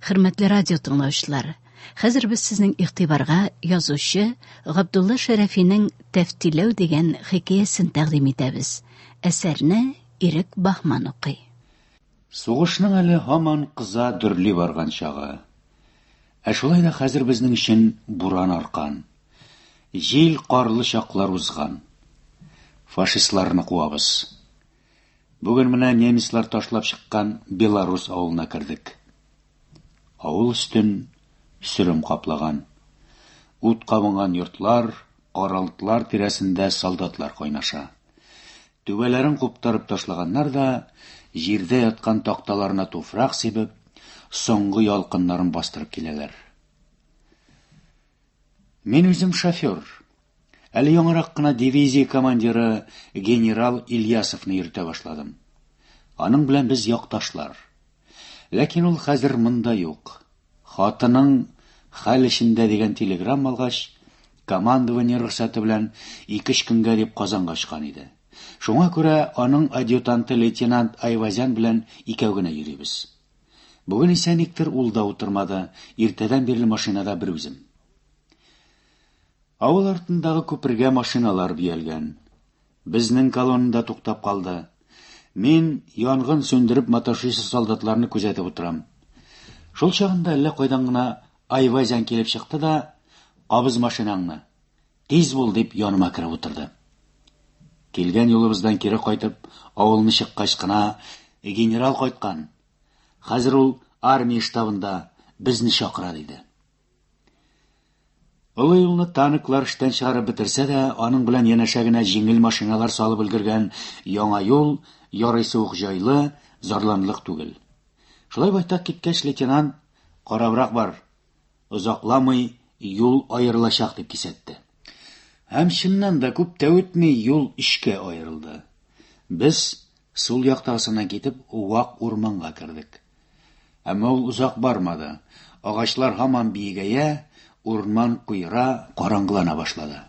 Хөрмәтле радио тыңлаучылар, хәзер без сезнең игътибарга язучы Габдулла Шәрәфинең Тәфтиләү дигән хикәясен тәкъдим итәбез. Әсәрне Ирек Бахман укый. Сугышның әле һаман кыза дөрли барган чагы. Ә шулай да хәзер безнең өчен буран аркан. Җил карлы чаклар узган. Фашистларны куабыз. Бүген менә немецлар ташлап чыккан Беларус авылына кердек. Авыл өстен сөрем каплаган. Ут кабынган йортлар, аралыклар тирәсендә солдатлар кайнаша. Түбәләрен куптарып ташлаганнар да, җирдә яткан такталарына туфрак сибеп, соңгы ялкыннарын бастырып киләләр. Мин үзем шофер. Әле яңарак кына дивизия командиры генерал Ильясовны йөртә башладым. Аның белән без якташлар. Ләкин ул хәзер монда юк. Хатының хәл эчендә дигән телеграмм алгач, командование рөхсәте белән икеш көнгә дип Казанга очкан иде. Шуңа күрә аның адъютанты лейтенант Айвазян белән икәү генә йөрибез. Бүген исә никтер ул да утырмады, иртәдән бирле машинада бер үзем. Авыл артындагы күпергә машиналар бөялгән. Безнең колонна да туктап калды. Мин янгын сүндереп маташучы солдатларны күзәтеп утырам. Шул чагында әллә кайдан гына Айвазян килеп чыкты да, Кабыз машинаңны. Тиз бул, дип яныма кереп утырды. Килгән юлыбыздан кире кайтып, авылны чыккач кына, Генерал кайткан. Хәзер ул армия штабында безне чакыра, диде. Олы юлны танклар эштән чыгарып бетерсә дә, аның белән янәшә генә җиңел машиналар салып өлгергән яңа юл ярыйсы ук җайлы, зарланлык түгел. Шулай байтак киткәч, лейтенант, карабрак бар, озакламый юл аерылачак дип кисәтте. Һәм чыннан да күп тә үтми юл өчкә аерылды. Без Сул як тарсына китеп, вак урманга кердек. Әмма ул озак бармады. Агачлар һаман биегәя, урман куера, караңгылана башлады.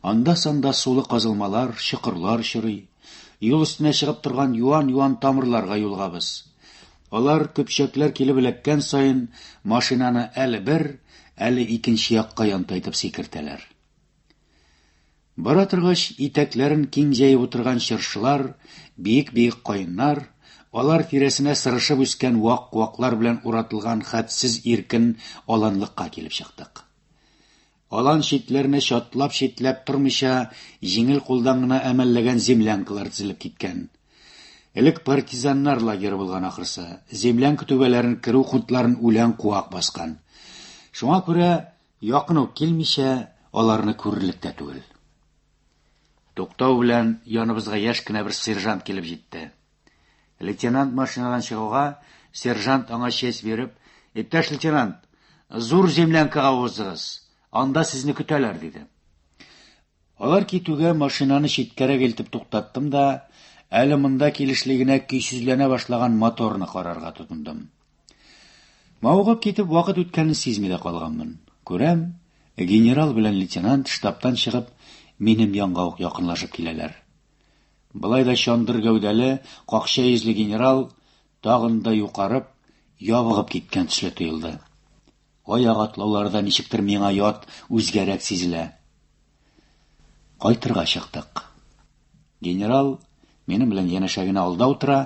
Анда-санда сулы казылмалар, чокырлар чорый. Юл өстенә чыгып торган юан-юан тамырларга юлгабыз. Алар көпчәкләр килеп эләккән саен машинаны әле бер, әле икенче якка янтайтып сикертәләр. Бара торгач, итәкләрен киң җәеп утырган чыршылар, биек-биек каеннар, алар тирәсенә сырышып үскән вак-ваклар белән уратылган хәтсез иркен аланлыкка килеп чыктык. Алан читләренә чатлап-читләп тормыйча, җиңел кулдан гына әмәлләгән землянкалар тезелеп киткән. Элек партизаннар лагеры булган ахрысы, землянка түбәләрен керү кунтларын үлән куак баскан. Шуңа күрә Якын ук килмичә, аларны күрерлек тә түгел. Туктау белән яныбызга яшь кенә бер сержант килеп җитте. Лейтенант машинадан чыгуга, сержант аңа честь биреп, Иптәш лейтенант, зур землянкага узыгыз, анда сезне көтәләр, диде. Алар китүгә машинаны читкәрәк илтеп туктаттым да, әле монда килешли генә көйсезләнә башлаган моторны карарга тотындым. Мавыгып китеп, вакыт үткәнен сизми дә калганмын. Күрәм, генерал белән лейтенант штабтан чыгып, минем янга ук якынлашып киләләр. Былай да чандыр гәүдәле, какча йөзле генерал тагын да юкарып, ябыгып киткән төсле тоелды. Аяк атлаулары да ничектер миңа ят, үзгәрәк сизелә. Кайтырга чыктык. Генерал минем белән янәшә генә алда утыра,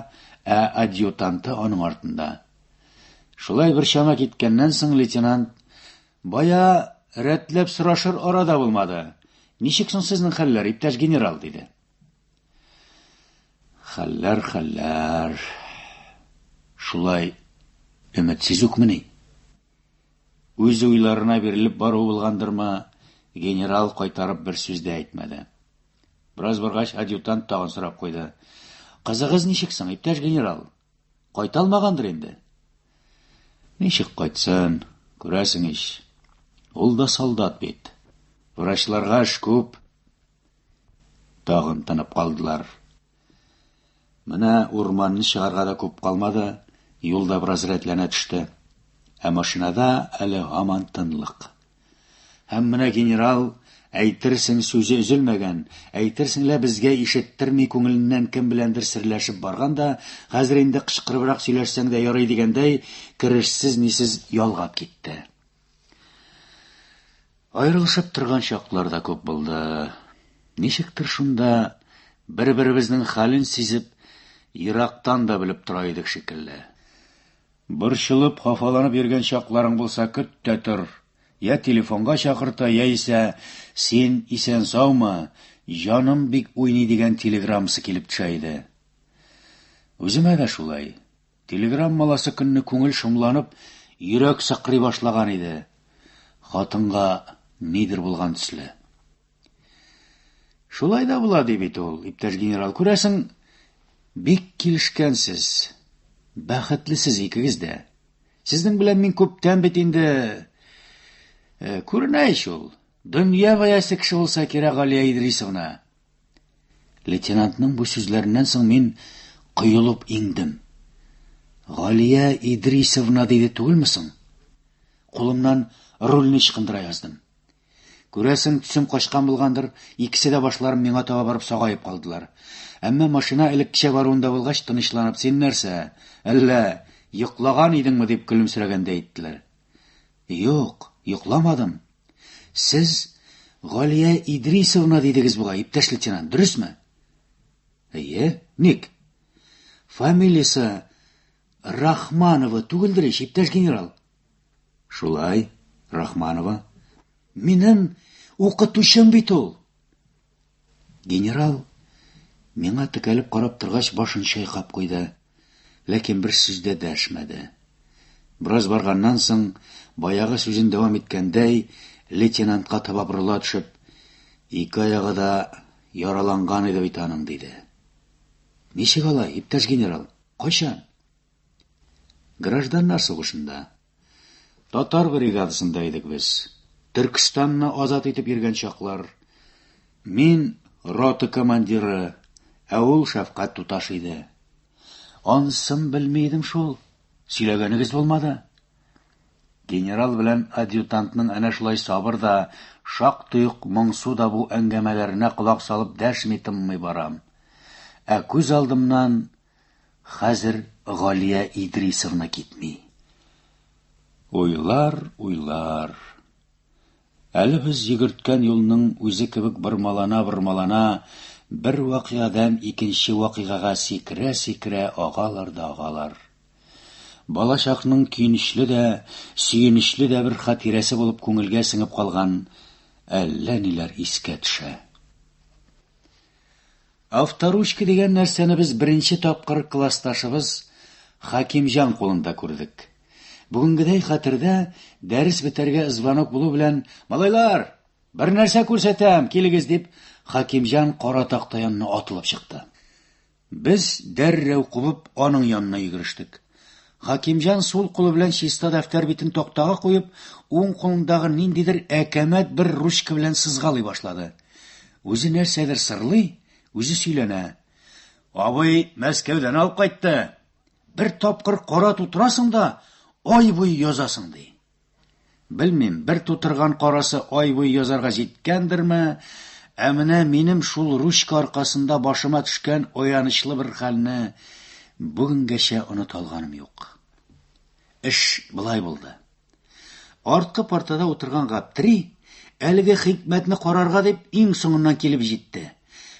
ә адъютанты аның артында. Шулай бер чама киткәннән соң лейтенант бая рәтләп сорашыр арада булмады. Ничек соң сезнең хәлләр, иптәш генерал, диде. Хәлләр, хәлләр. Шулай өметсез үкмени? Үз уйларына бирелеп бару булгандырмы, генерал кайтарып бер сүз дә әйтмәде. Бераз баргач, адъютант тагын сорап куйды. Кызыгыз ничек соң, иптәш генерал? Кайта алмагандыр инде? Ничек кайтсын, күрәсең ич. Ул да солдат бит. Врачларга эш күп, Тагын тынып калдылар. Менә урманны чыгарга да күп калмады, юлда бераз рәтләнә төште. Ә машинада әле һаман тынлык. Һәм менә генерал әйтерсең сүзе өзелмәгән, әйтерсең лә безгә ишеттерми күңеленнән кем беләндер серләшеп барган да, хәзер инде кычкырыбрак сөйләшсәң дә ярый дигәндәй, керешсез-нисез ялгап китте. Аерылышып торган чаклар да күп булды. Ничектер шунда бер-беребезнең хәлен сизеп, ерактан да белеп тора идек шикелле. Борчылып, хафаланып йөргән чакларың булса, көт тә тор. Я телефонга чакырта, яисә син исән-саумы, җаным бик уйный дигән телеграммасы килеп төшә иде. Үземә дә шулай. Телеграммаласы көнне күңел шомланып, йөрәк сыкрый башлаган иде. Хатынга нидер булган төсле. Шулай да була, ди бит ул, иптәш генерал. Күрәсең, бик килешкәнсез. Бәхетлесез икегез дә. Сезнең белән мин күптән бит инде э, күренә ич ул. Дөнья бәясе кеше булса кирәк, Галия Идрисовна. Лейтенантның бу сүзләреннән соң мин коелып иңдем. Галия Идрисовна диде түгелме соң? Кулымнан рульне чыкындыра яздым. Күрәсең, төсем качкан булгандыр, икесе дә башларын миңа таба барып сагаеп калдылар. Әмма машина элеккечә баруында булгач, тынычланып, син нәрсә, әллә йоклаган идеңме дип көлемсерәгәндә әйттеләр. Юк, йокламадым. Сез Галия Идрисовна дидегез бугай, иптәш лейтенант, дөресме? Әйе, ник? Фамилиясе Рахманова түгелдер ич, иптәш генерал. Шулай, Рахманова. Минем укытучым бит ул. Генерал, миңа текәлеп карап торгач, башын чайкап куйды, ләкин бер сүз дә дәшмәде. Бераз барганнан соң, баягы сүзен дәвам иткәндәй, лейтенантка таба борыла төшеп, ике аягы да яраланган иде бит аның, диде. Ничек алай, иптәш генерал? Кайчан? Гражданнар сугышында, Татар бригадасында идек без. Төркстанны азат итеп йөргән чаклар. Мин рота командиры, ә ул шәфкать туташ иде. Ансын белми идем шул. Сөйләгәнегез булмады. Генерал белән адъютантның әнә шулай сабыр да, шактый ук моңсу да бу әңгәмәләренә колак салып дәшми тынмый барам. Ә күз алдымнан Хәзер Галия Идрисовна китми. Уйлар, уйлар. Әле без йөгерткән юлның үзе кебек бормалана-бормалана бер вакыядан икенче вакыйгага сикерә-сикерә агалар да агалар. Балачакның көенечле дә, сөенечле дә бер хатирәсе булып күңелгә сеңеп калган әллә ниләр искә төшә. Авторучка дигән нәрсәне без беренче тапкыр классташыбыз Хакимҗан кулында күрдек. Бүгенгедәй хәтердә, дәрес бетәргә звонок булу белән, Малайлар! Бер нәрсә күрсәтәм, килегез, дип, Хакимҗан кара такта янына атылып чыкты. Без, дәррәү кубып, аның янына йөгерештек. Хакимҗан сул кулы белән чиста дәфтәр битен тактага куеп, уң кулындагы ниндидер әкәмәт бер ручка белән сызгалый башлады. Үзе нәрсәдер сырлый, үзе сөйләнә. Абый Мәскәүдән алып кайтты. Бер тапкыр кара тутырасың да, ай буе язасың, ди. Белмим, бер тутырган карасы ай буе язарга җиткәндерме, ә менә минем шул ручка аркасында башыма төшкән аянычлы бер хәлне бүгенгәчә оныта алганым юк. Эш былай булды. Арткы партада утырган Гаптри, әлеге хикмәтне карарга дип, иң соңыннан килеп җитте.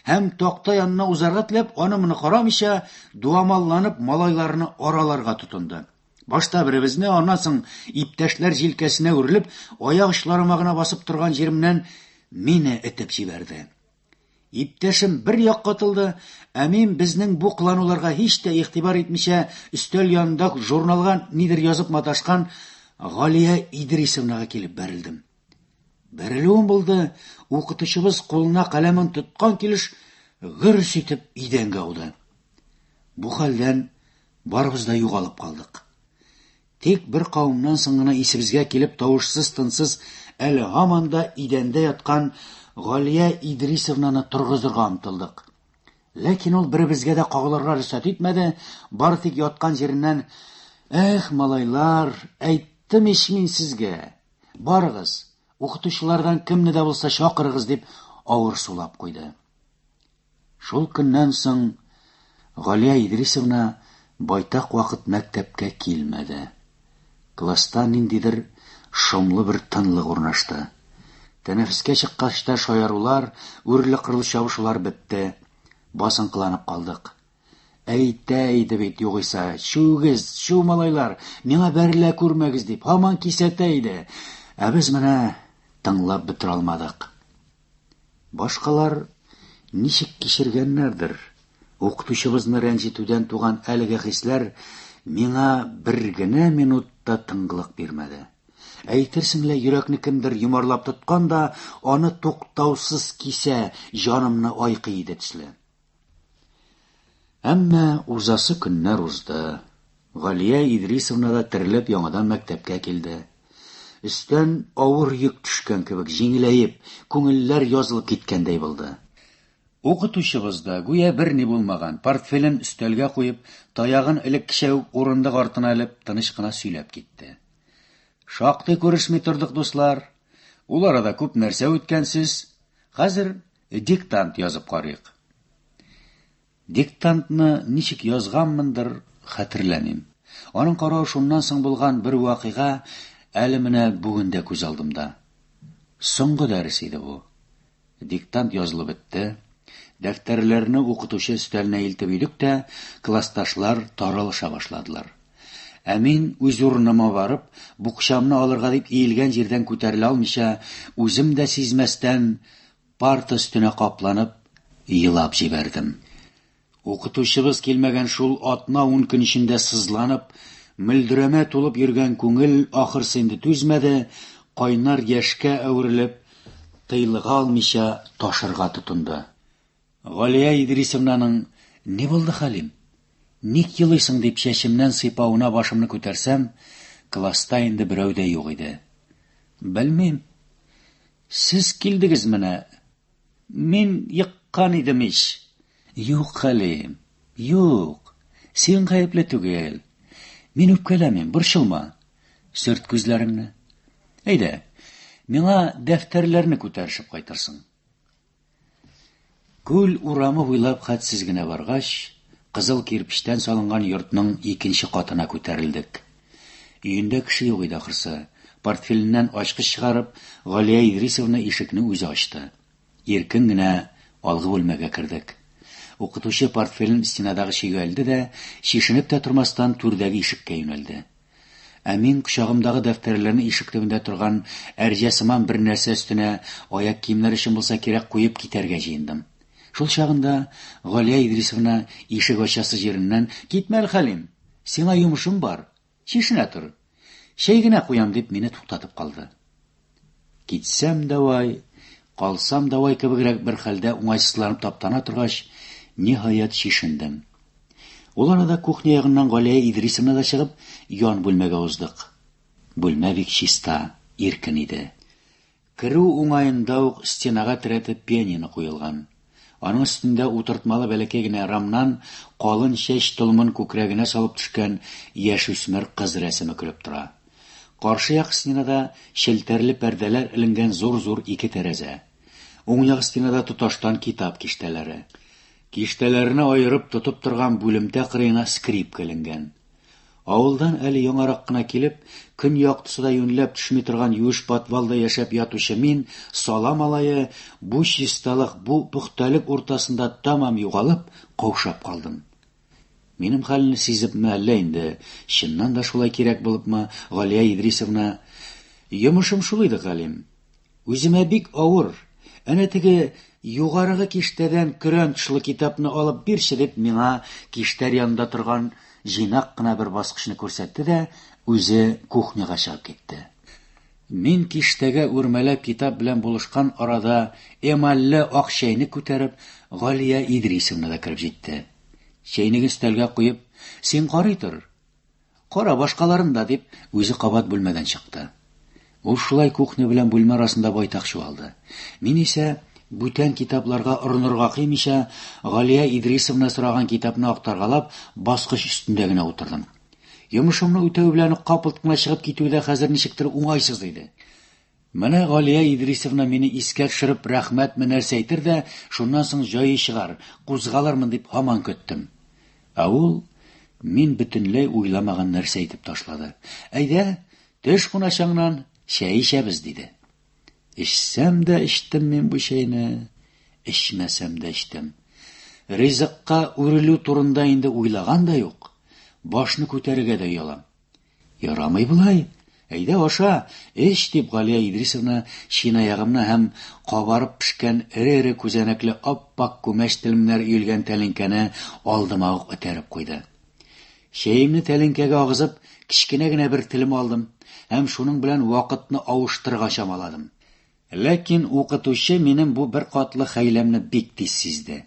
Һәм, такта янына узарга теләп, аны-моны карамыйча, дуамалланып, малайларны араларга тотынды. Башта беребезне, аннан соң иптәшләр җилкәсенә үрелеп, аяк очларыма гына басып торган җиремнән мине этеп җибәрде. Иптәшем бер як катылды, ә мин безнең бу кылануларга һич тә игътибар итмичә, өстәл янында журналга нидер язып маташкан Галия Идрисовнага килеп бәрелдем. Бәрелүем булды, укытучыбыз кулына каләмен тоткан килеш гөрс итеп идәнгә ауды. Бу хәлдән барыбыз да югалып калдык. Тик бер кавымнан соң гына исебезгә килеп тавышсыз-тынсыз әле һаман да идәндә яткан Галия Идрисовнаны торгызырга омтылдык. Ләкин ул беребезгә дә кагылырга рөхсәт итмәде, бары тик яткан җиреннән «Эх, малайлар, әйттем ич мин сезгә! Барыгыз, укытучылардан кемне дә булса чакырыгыз!» дип авыр сулап куйды. Шул көннән соң Галия Идрисовна байтак вакыт мәктәпкә килмәде. Класста ниндидер шомлы бер тынлык урнашты. Тәнәфескә чыккач та шаярулар, үрле-кырлы чабышулар бетте. Басынкыланып калдык. Әйтә иде бит югыйса, чүгез, чү малайлар, миңа бәрелә күрмәгез дип, һаман кисәтә иде. Ә без менә тыңлап бетерә алмадык. Башкалар ничек кичергәннәрдер? Укытучыбызны рәнҗетүдән туган әлеге хисләр миңа бер генә минут та тыңлык бирмәде. Әйтерсең лә йөрәкне кемдер йомарлап тоткан да, аны туктаусыз кисә, җанымны айкый иде төсле. Әмма узасы көннәр узды. Галия Идрисовна да терелеп яңадан мәктәпкә килде. Өстән авыр йөк төшкән кебек җиңеләеп, күңелләр язылып киткәндәй булды. Укытучыбыз да, гүя берни булмаган, портфелен өстәлгә куеп, таягын элеккечә үк урындык артына элеп, тыныч кына сөйләп китте. Шактый күрешми тордык, дуслар. Ул арада күп нәрсә үткән сез. Хәзер Диктант язып карыйк. Диктантны ничек язганмындыр, хәтерләмим. Аның каравы шуннан соң булган бер вакыйга әле менә бүген дә күз алдымда. Соңгы дәрес иде бу. Диктант язылып бетте. Дәфтәрләрне укытучы өстәленә илтеп өйдек тә, классташлар таралыша башладылар. Ә мин, үз урыныма барып, букчамны алырга дип иелгән җирдән күтәрелә алмыйча, үзем дә сизмәстән, парта өстенә капланып, елап җибәрдем. Укытучыбыз килмәгән шул атна-ун көн эчендә сызланып, мөлдерәмә тулып йөргән күңел ахырсы инде түзмәде, кайнар яшькә әверелеп, тыйлыга алмыйча ташырга тотынды. Галия Идрисовнаның, Ни булды, Хәлим? Ник елыйсың? дип чәчемнән сыйпавына башымны күтәрсәм, класста инде берәү дә юк иде. Белмим. Сез килдегез менә. Мин еккан идем ич. Юк, Хәлим, юк. Син гаепле түгел. Мин үпкәләмим, борчылма. Сөрт күзләреңне. Әйдә, миңа дәфтәрләрне күтәрешеп кайтырсың. Күл урамы буйлап хәтсез генә баргач, кызыл кирпечтән салынган йортның икенче катына күтәрелдек. Өендә кеше юк иде ахрысы. Портфеленнән ачкыч чыгарып, Галия Идрисовна ишекне үзе ачты. Иркен генә алгы бүлмәгә кердек. Укытучы портфелен стенадагы чөйгә элде дә, чишенеп тә тормастан, түрдәге ишеккә юнәлде. Ә мин кочагымдагы дәфтәрләрне ишек төбендә торган әрҗә сыман бер нәрсә өстенә, аяк киемнәр өчен булса кирәк, куеп китәргә җыендым. Шул чагында Галия Идрисовна ишек ачасы җиреннән, Китмә, Әлхәлим! Сиңа йомышым бар. Чишенә тор. Чәй генә куям, дип мине туктатып калды. Китсәм, давай, калсам, давай кебегрәк бер хәлдә уңайсызланып таптана торгач, ниһаять чишендем. Ул арада кухня ягыннан Галия Идрисовна да чыгып, ян бүлмәгә уздык. Бүлмә бик чиста, иркен иде. Керү уңаенда ук стенага терәтеп пианино куелган. Аның өстендә утыртмалы бәләкәй генә рамнан калын чәч толымын күкрәгенә салып төшкән яшүсмер кыз рәсеме көлеп тора. Каршы як стенада челтәрле пәрдәләр эленгән зур-зур ике тәрәзә. Уң як стенада тоташтан китап киштәләре. Киштәләрне аерып тотып торган бүлемтә кырыена скрипка эленгән. Авылдан әле яңарак кына килеп, көн яктысы да юньләп төшми торган юеш подвалда яшәп ятучы мин, сала малае, бу чисталык, бу пөхтәлек уртасында тәмам югалып, каушап калдым. Минем хәлне сизепме әллә инде, чыннан да шулай кирәк булыпмы, Галия Идрисовна? Йомышым шул иде, Галим. Үземә бик авыр. Әнә теге югарыгы киштәдән көрәнтшлы китапны алып бирче, дип, миңа киштәр янында торган җыйнак кына бер баскычны күрсәтте дә, үзе кухняга чыгып китте. Мин киштәгә үрмәләп китап белән булышкан арада эмальле ак чәйнек күтәреп, Галия Идрисовна да кереп җитте. Чәйнеген өстәлгә куеп, Син карый тор. Кара, башкаларын да, дип, үзе кабат бүлмәдән чыкты. Ул шулай кухня белән бүлмә арасында байтак чуалды. Мин исә, бүтән китапларга орынырга кыймыйча, Галия Идрисовна сораган китапны актаргалап, баскыч өстендә генә утырдым. Йомышымны үтәү белән үк капылт кына чыгып китү дә хәзер ничектер уңайсыз иде. Менә Галия Идрисовна мине искә төшереп рәхмәтме нәрсә әйтер дә, шуннан соң җае чыгар, кузгалырмын дип һаман көттем. Ә ул мин бөтенләй уйламаган нәрсә әйтеп ташлады. Әйдә, төш куначаңнан, чәй эчәбез, диде. Эчсәм дә эчтем мин бу чәйне, эчмәсәм дә эчтем. Ризыкка үрелү турында инде уйлаган да юк, башны күтәрергә дә оялам. Ярамый болай. Әйдә, аша, эч, дип Галия Идрисовна чыйнаягымны һәм кабарып пешкән эре-эре күзәнәкле ап-ак күмәч телемнәр өелгән тәлинкәне алдыма ук этәреп куйды. Чәемне тәлинкәгә агызып, кечкенә генә бер телем алдым һәм шуның белән вакытны авыштырырга чамаладым. Ләкин укытучы минем бу беркатлы хәйләмне бик тиз сизде.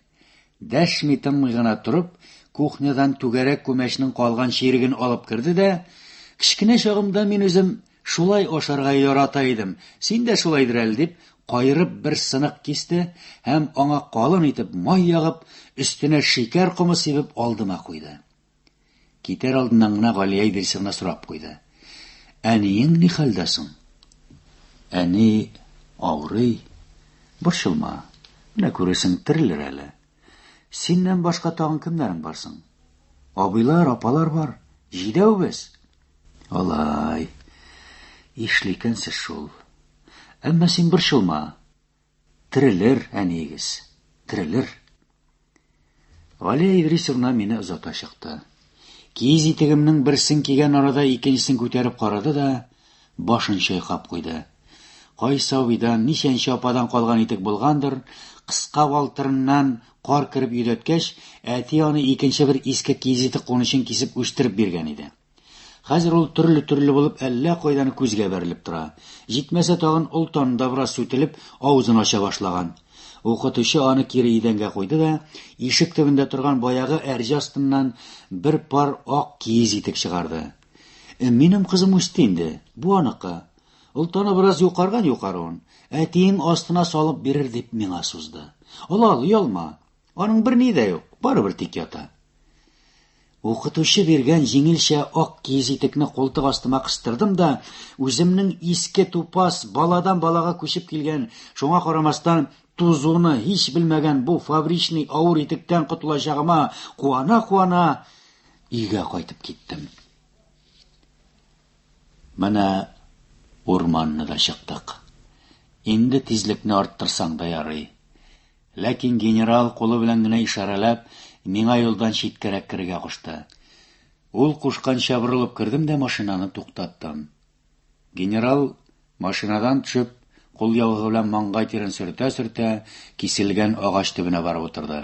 Дәшми-тынмый гына торып, кухнядан түгәрәк күмәчнең калган чиреген алып керде дә, Кечкенә чагымда мин үзем шулай ашарга ярата идем, син дә шулайдыр әле, дип, каерып бер сынык кисте һәм, аңа калын итеп май ягып, өстенә шикәр комы сибеп, алдыма куйды. Китәр алдыннан гына Галия Идрисовна сорап куйды. Әниең ни хәлдә соң? Әни авырый. Борчылма. Менә күрәсең, терелер әле. Синнән башка тагын кемнәрең бар соң? Абыйлар, апалар бар. Җидәү без. Алай. Ишле икәнсез шул. Әмма син борчылма. Терелер, әниегез, терелер. Галия Идрисовна мине озата чыкты. Киез итегемнең берсен кигән арада икенчесен күтәреп карады да, башын чайкап куйды. Кайсы авидан, ничәнче ападан калган итек булгандыр, кыска валтырыннан кар кереп йөдәткәч, әти аны икенче бер иске киез итек кунычын кисеп үстереп биргән иде. Хәзер ул төрле-төрле булып әллә кайдан күзгә бәрелеп тора. Җитмәсә тагын олтаны да бераз сүтелеп, авызын ача башлаган. Укытучы аны кире идәнгә куйды да, ишек төбендә торган баягы әрҗә астыннан бер пар ак киез итек чыгарды. Э, минем кызым үсте инде, бу аныкы. Олтаны бераз юкарган юкаруын, әтиең астына салып бирер дип миңа сузды. Ала, ала, оялма. Аның бер ни дә юк, барыбер тик ята. Укытучы биргән җиңелчә ак киез итекне култык астыма кыстырдым да, үземнең иске тупас, баладан балага күчеп килгән, шуңа карамастан, тузуны һич белмәгән бу фабричный авыр итектән котылачагыма куана-куана өйгә кайтып киттем. Менә урманны да чыктык. Инде тизлекне арттырсаң да ярый. Ләкин генерал, кулы белән генә ишарәләп, миңа юлдан читкәрәк керергә кушты. Ул кушканча борылып кердем дә машинаны туктаттым. Генерал, машинадан төшеп, кул яугы белән маңгай тирен сөртә-сөртә, киселгән агач төбенә барып утырды.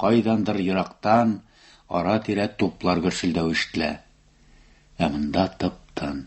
Кайдандыр ерактан, ара-тирә туплар гөрселдәве ишетелә. Ә монда тып-тын.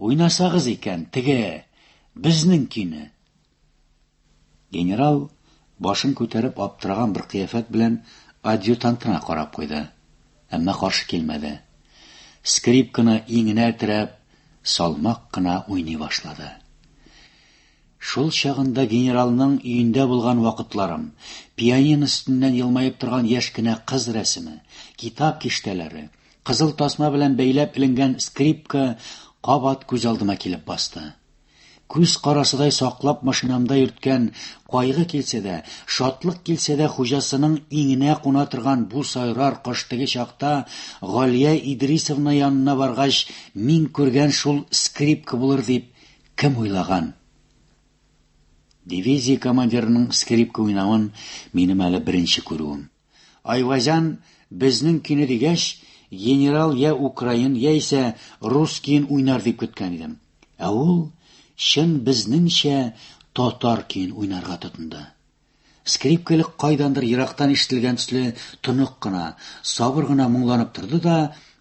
Уйнасагыз икән, теге, безнеңкине! Генерал, башын күтәреп, аптыраган бер кыяфәт белән адъютантына карап куйды. Әмма каршы килмәде. Скрипканы иңенә терәп, салмак кына уйный башлады. Шул чагында генералның өендә булган вакытларым, пианино өстеннән елмаеп торган яшь кенә кыз рәсеме, китап киштәләре, Кызыл тасма белән бәйләп эленгән скрипка кабат күз алдыма килеп басты. Күз карасыдай саклап машинамда йөрткән кайгы килсә дә, шатлык килсә дә хуҗасының иңенә куна торган бу сайрар кош теге чакта Галия Идрисовна янына баргач мин күргән шул скрипка булыр дип кем уйлаган? Дивизия командирының скрипка уйнавын минем әле беренче күрүем. Айвазян безнең көйне дигәч, генерал я украин, я исә рус көен уйнар дип көткән идем. Ә ул чын безнеңчә татар көен уйнарга тотынды. Скрипкале кайдандыр ерактан ишетелгән төсле тонык кына, сабыр гына моңланып торды да,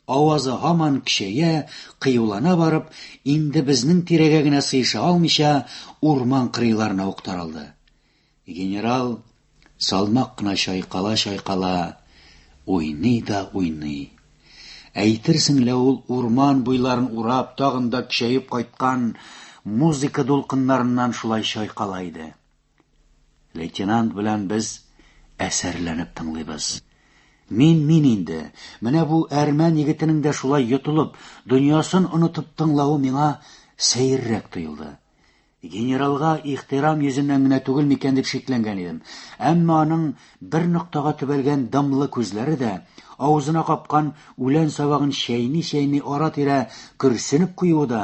авазы һаман көчәя, кыюлана барып, инде безнең тирәгә генә сыеша алмыйча, урман кырыйларына ук таралды. Генерал салмак кына чайкала-чайкала уйный да уйный. Әйтерсең лә ул урман буйларын урап, тагын да көчәеп кайткан музыка дулкыннарыннан шулай чайкала иде. Лейтенант белән без әсәрләнеп тыңлыйбыз. Мин мин инде, менә бу әрмән егетенең дә шулай йотылып, дөньясын онытып тыңлавы миңа сәеррәк тоелды. Генералга ихтирам йөзеннән генә түгел микән дип шикләнгән идем. Әмма аның бер ноктага төбәлгән дымлы күзләре дә, авызына капкан үлән сабагын чәйни-чәйни ара-тирә көрсенеп куюы да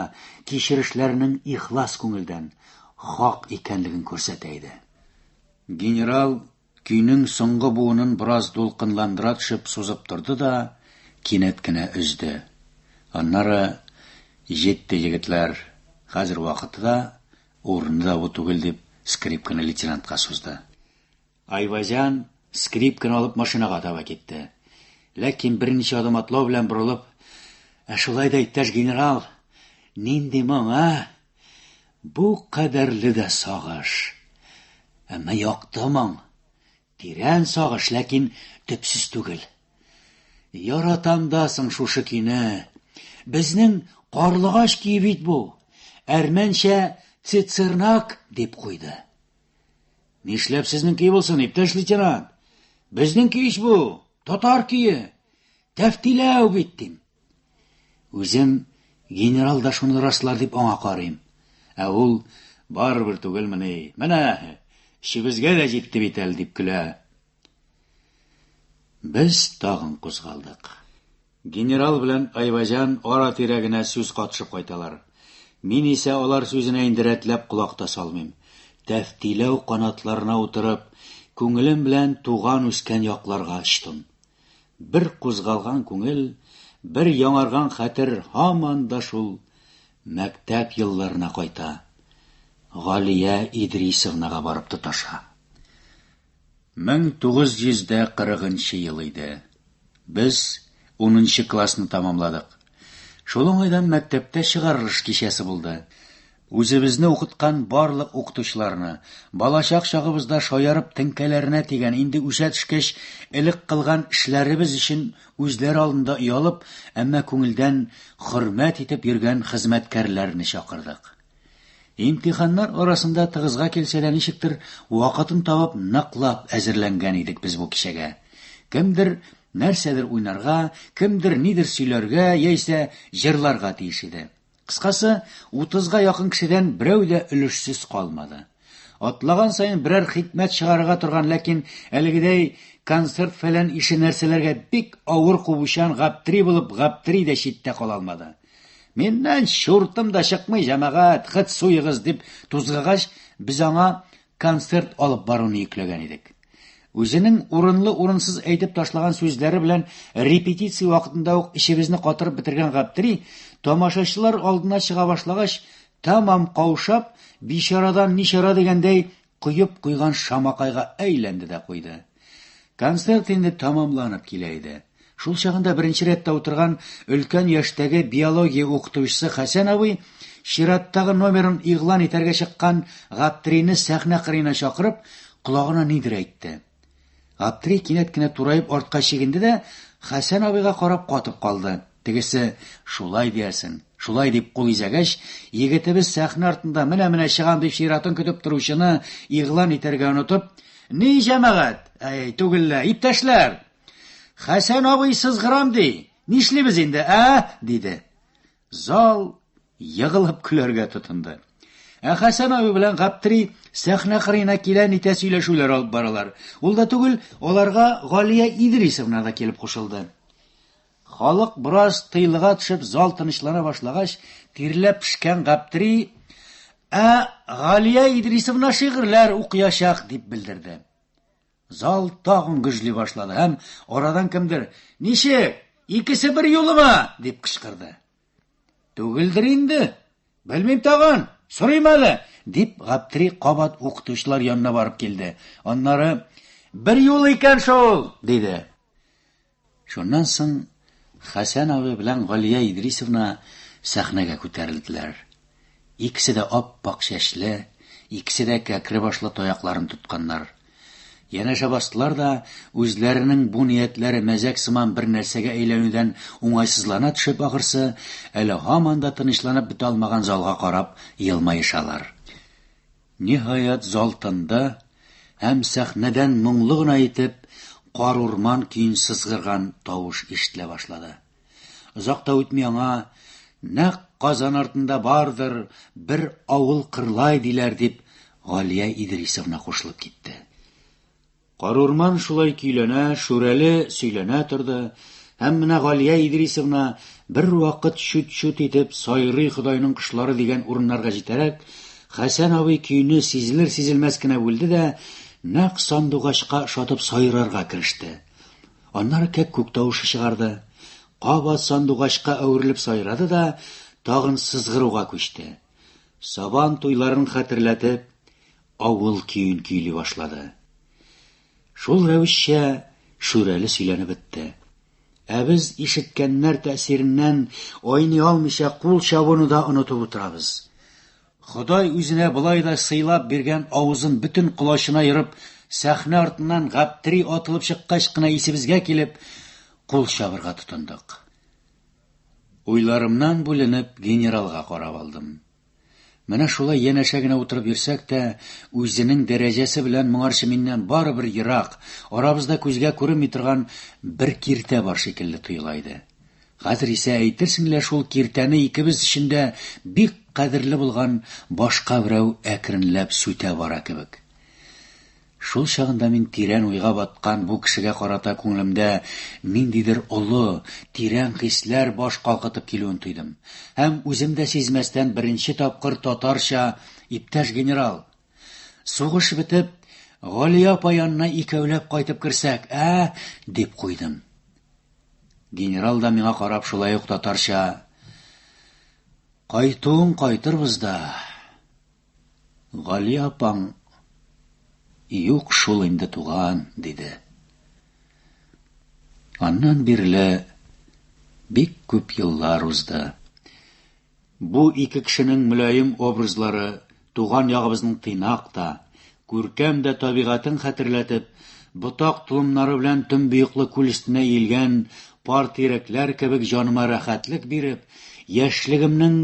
кичерешләренең ихлас күңелдән, хак икәнлеген күрсәтә иде. Генерал Көйнең соңгы буынын бераз дулкынландыра төшеп сузып торды да, кинәт кенә өзде. Аннары, Җитте, егетләр, хәзер вакыты да, урыны да бу түгел, дип, скрипканы лейтенантка сузды. Айвазян скрипканы алып машинага таба китте. Ләкин берничә адым атлау белән борылып, Ә шулай да, иптәш генерал, нинди моң, ә? Бу кадәрле дә сагыш. Әмма якты моң. Тирән сагыш, ләкин төпсез түгел. Яратам да соң шушы көйне. Безнең карлыгач көе бит бу. Әрмәнчә цицернак дип куйды. Нишләп сезнең көй булсын, иптәш лейтенант? Безнең көй бу, татар көе. Тәфтиләү бит, дим. Үзем генерал да шуны раслар дип аңа карыйм. Ә ул барыбер түгелмени. Менә эшебезгә дә җитте бит әле дип көлә. Без тагын кузгалдык. Генерал белән Айваҗан ара тирәгенә сүз катышып кайталар. Мин исә алар сүзенә инде рәтләп колак та салмыйм. Тәфтиләү канатларына утырып, күңелем белән туган үскән якларга очтым. Бер кузгалган күңел, бер яңарган хәтер һаман да шул мәктәп елларына кайта. Галия Идрисовнага барып тоташа. 1940 ел иде. Без 10 классны тәмамладык. Шул уңайдан мәктәптә чыгарылыш кичәсе булды. Үзебезне укыткан барлык укытучыларны, балачак чагыбызда шаярып теңкәләренә тигән, инде үсә төшкәч, элек кылган эшләребез өчен үзләре алдында оялып, әмма күңелдән хөрмәт итеп йөргән хезмәткәрләрне чакырдык. Имтиханнар арасында тыгызга килсә дә, ничектер, вакытын табып, ныклап әзерләнгән идек без бу кичәгә. Кемдер нәрсәдер уйнарга, кемдер нидер сөйләргә яисә җырларга тиеш иде. Кыскасы, утызга якын кешедән берәү дә өлешсез калмады. Атлаган саен берәр хикмәт чыгарырга торган, ләкин әлегедәй концерт-фәлән ише нәрсәләргә бик авыр кубучан гаптри булып гаптри дә читтә кала алмады. Миннән чуртым да чыкмый, җәмәгать, хет суегыз, дип тузгагач, без аңа концерт алып баруны йөкләгән идек. Үзенең урынлы-урынсыз әйтеп ташлаган сүзләре белән репетиция вакытында ук эчебезне катырып бетергән Гаптери, тамашачылар алдына чыга башлагач, тәмам каушап, бичарадан ничара дигәндәй, коеп куйган шамакайга әйләнде дә куйды. Концерт инде тамамланып килә иде. Шул чагында беренче рәттә утырган өлкән яшьтәге биология укытучысы Хәсән абый чираттагы номерын игълан итәргә чыккан Гаптрины сәхнә кырыена чакырып, колагына нидер әйтте. Гаптри кинәт кенә тураеп артка чигенде дә Хәсән абыйга карап катып калды. Тегесе, Шулай диясен. Шулай дип кул изәгәч, егетебез сәхнә артында менә-менә чыгам дип чиратын көтеп торучыны игълан итәргә онытып, Ни җәмәгать! Әй, түгеллә, иптәшләр! Хәсән абый сызгырам ди. Нишлибез инде, ә? диде. Зал егылып көләргә тотынды. Ә Хәсән абый белән Гаптри сәхнә кырыена килә-нитә сөйләшүләр алып баралар. Ул да түгел, аларга Галия Идрисовна да килеп кушылды. Халык бераз тыйлыга төшеп зал тынычлана башлагач, тирләп пешкән Гаптери, Ә Галия Идрисовна шигырьләр укыячак, дип белдерде. Зал тагын гөжли башлады һәм арадан кемдер, Ничек, икесе бер юлыма? дип кычкырды. Түгелдер инде. Белмим тагын, сорыйм әле, дип Гаптери кабат укытучылар янына барып килде. Аннары, Бер юл икән шул, диде. Шуннан соң Хәсән абый белән Галия Идрисовна сәхнәгә күтәрелделәр. Икесе дә ап-ак чәчле, икесе дә кәкре башлы таякларын тотканнар. Янәшә бастылар да, үзләренең бу ниятләре мәзәк сыман бер нәрсәгә әйләнүдән уңайсызлана төшеп ахрысы, әле һаман да тынычланып бетә алмаган залга карап елмаешалар. Ниһаять, зал тынды, һәм сәхнәдән моңлы гына итеп Карурман көен сызгырган тавыш ишетелә башлады. Озак та үтми аңа Нәкъ Казан артында бардыр бер авыл Кырлай диләр, дип Галия Идрисовна кушылып китте. Карурман шулай көйләнә, Шүрәле сөйләнә торды, һәм менә Галия Идрисовна бер вакыт чүт-чүт итеп Сайрый Ходайның кошлары дигән урыннарга җитәрәк, Хәсән абый көйне сизелер-сизелмәс кенә бүлде дә, нәкъ сандугачка ошатып сайрарга кереште. Аннары кәккүк тавышы чыгарды. Кабат сандугачка әверелеп сайрады да, тагын сызгыруга күчте. Сабан туйларын хәтерләтеп, Авыл көен көйли башлады. Шул рәвешчә Шүрәле сөйләнеп бетте. Ә без ишеткәннәр тәэсиреннән айный алмыйча кул чабуны да онытып утырабыз. Ходай үзенә болай да сыйлап биргән авызын бөтен колачына ерып, сәхнә артыннан гаптери атылып чыккач кына исебезгә килеп, кул чабырга тотындык. Уйларымнан бүленеп генералга карап алдым. Менә шулай янәшә генә утырып йөрсәк тә, үзенең дәрәҗәсе белән моңарчы миннән барыбер ерак, арабызда күзгә күренми торган бер киртә бар шикелле тоела иде. Хәзер исә әйтерсең лә шул киртәне икебез өчен дә бик кадерле булган башка берәү әкренләп сүтә бара кебек. Шул чагында мин тирән уйга баткан бу кешегә карата күңелемдә ниндидер олы, тирән хисләр баш калкытып килүен тойдым. Һәм үзем дә сизмәстән беренче тапкыр татарча, Иптәш генерал! Сугыш бетеп, Галия апа янына икәүләп кайтып керсәк, ә? дип куйдым. Генерал да миңа карап шулай ук татарча, Кайтуың кайтырбыз да. Гали апаң, Юк шул инде, туган, диде. Аннан бирле бик күп еллар узды. Бу ике кешенең мөлаем образлары туган ягыбызның тыйнак та, Күркәм дә табигатен хәтерләтеп, ботак-толымнары белән төнбоеклы күл өстенә иелгән пар тирәкләр кебек җаныма рәхәтлек биреп, яшьлегемнең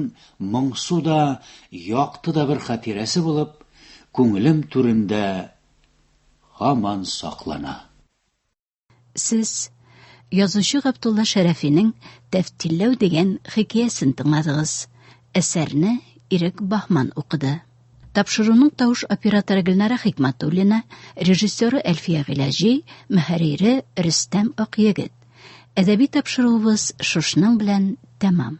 моңсу да, якты да бер хатирәсе булып, күңелем түрендә һаман саклана. Сез язучы Габдулла Шәрәфинең Тәфтилләү дигән хикәясен тыңладыгыз. Әсәрне Ирек Бахман укыды. Тапшыруның тавыш операторы Гөлнара Хикматуллина, режиссеры Әлфия Гыйләҗи, мөхәррире Рөстәм Акъегет. Әдәби тапшыруыбыз шушның белән тәмам.